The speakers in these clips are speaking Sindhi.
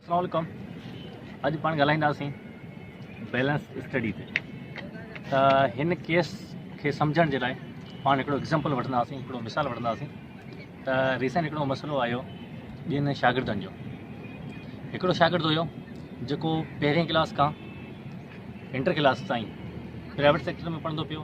السلام عليڪم اڄ پاڻ ڳالهائينداسين بيلنس اسٽڊي تي ته هن ڪيس کي سمجھڻ جي لاء پاڻ هڪڙو ايگزامپل وٺنداسين هڪڙو مثال وٺنداسين ته ریسنٽ هڪڙو مسئلو آيو ٻين شاگردن جو هڪڙو شاگرد هيو جيڪو پهرين ڪلاس کان انٽر ڪلاس تائين پرائيويٽ سيڪٽر ۾ پڙهندو پيو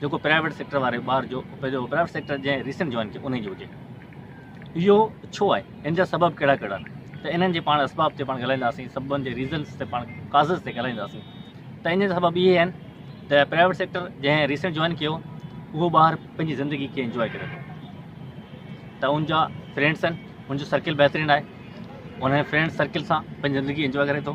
جيڪو پرائيويٽ سيڪٽر واري ٻار جو پنهنجو پرائيويٽ سيڪٽر جنهن ريسنٽ جوائن ڪيو انهي جو هجي اهو ڇو آهي ان جا سبب ڪهڙا ڪهڙا آهن ته انهن جي پاڻ اسباب تي پاڻ ڳالهائينداسين سببن جي ريزنس تي پاڻ ڪازز تي ڳالهائينداسين ته ان جا سبب اهي آهن ته پرائيويٽ سيڪٽر جنهن ريسنٽ جوائن ڪيو اهو ٻار پنهنجي زندگي کي انجوائي ڪري ٿو ته ان جا فرينڈس آهن ان جو سرڪل بهترين آهي ان فرينڈ سرڪل سان پنهنجي زندگي انجوائي ڪري ٿو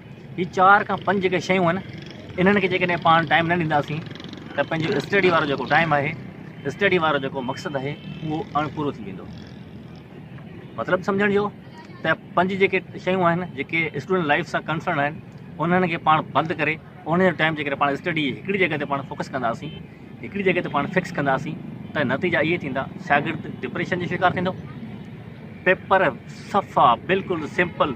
هي چار کان پنج جيڪي شيون آهن انهن کي جيڪڏهن پاڻ ٽائيم نه ڏينداسين ته پنهنجو اسٽڊي وارو جيڪو ٽائيم آهي اسٽڊي وارو جيڪو مقصد آهي اهو اڻ پورو ٿي ويندو مطلب سمجھڻ جو ته پنج جيڪي شيون آهن جيڪي اسٽوڊنٽ لائف سان ڪنسرن آهن انهن کي پاڻ بند ڪري ان جو ٽائيم جيڪڏهن پاڻ اسٽڊي هڪڙي جڳهه تي پاڻ فوڪس ڪنداسين هڪڙي جڳهه تي پاڻ فڪس ڪنداسين ته نتيجا اهي ٿيندا شاگرد ڊپريشن جو شڪار ٿيندو پيپر صفا بلڪل سمپل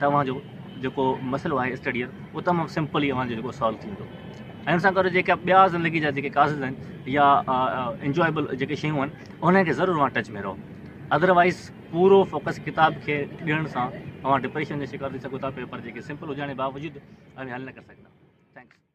توهان جو جيڪو مسئلو آهي اسٽڊيء جو اهو تمام سمپل ئي اوهان جو جيڪو سالو ٿيندو ۽ ان سان گڏ جيڪا ٻيا زندگي جا جيڪي ڪازز آهن يا انجوائبل جيڪي شيون آهن انهن کي ضرور اوهان ٽچ ۾ رهو ادروائز پورو فوڪس ڪتاب کي ڏيڻ سان اوهان ڊپريشن جو شڪار ٿي سگهو ٿا پيپر جيڪي سمپل هجڻ جي باوجود اوهين حل نه ڪري سگهندا ٿينڪس